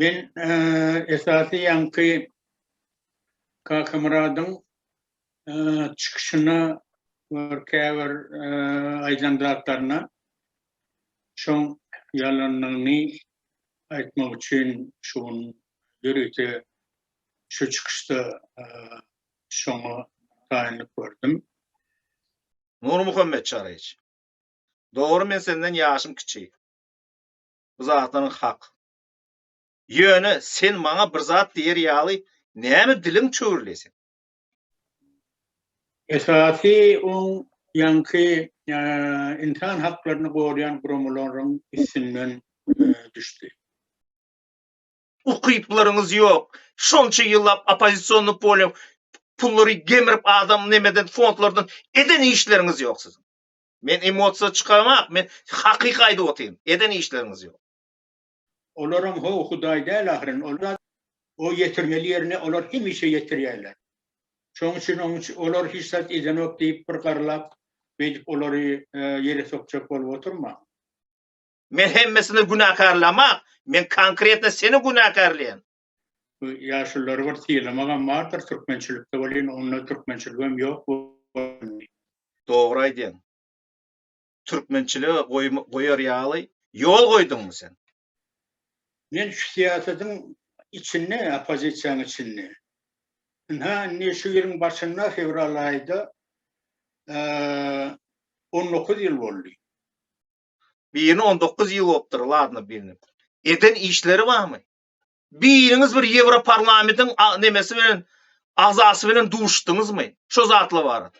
Men esasy ýaňky Kakamyradyň çykyşyna we käbir aýdan zatlaryna Şoň ýalanyny aýtmak üçin şu gün ýörite şu çykyşda şoňa taýynlyk gördüm. Nurmuhammet Çaryç. Dogry men senden ýaşym kiçi. Bu zatlaryň hak. Ýöne sen maňa bir zat diýer ýaly näme diliň çöwrülýä seň? Esasy oň ýaňky ynsan haklaryny goraýan guramalaryň üstünden düşdi. Ukyplaryňyz ýok. Şonça ýyllap oppozisionnyk bolýaň, pullary gemirip adam nemeden fondlardan eden işleriňiz ýok siziň. Men emosiýa çykamak, men hakyky aýdyp otyryn. Eden işleriňiz ýok. Olaram ho Hudaý däl ahyryn, ol zat o ýetirmeli ýerine olar hemişe ýetirýärler. Şoň üçin oň üçin olar hiç zat edenok diýip bir garlap beýdip olary ýere sokjak bolup oturmaň. Men hemmesini günäkärlämak, men konkretno seni günäkärleýän. Bu ýaşulylary bir sylamagam bardyr türkmençilikde welin onda türkmençiligem ýok boldy. Dogry aýdýaň. türkmençilige goýar ýaly ýol goýduňmy sen? Men şu syýasatyň içinde, oppozisiýanyň içinde. Ynha, indi şu ýylyň başynda, fewral aýyda on dokuz ýyl boldy. Birini on dokuz ýyl bolupdyr, ladno birini. Eden işleri barmy? Biriňiz bir Ýewroparlamediň nemesi bilen, agzasy bilen duşduňyzmy? Şo zatlar barada.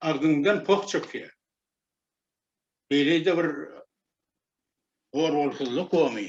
agzyňdan poh çykýar. Beýle-de bir gorolsuzlyk gomy.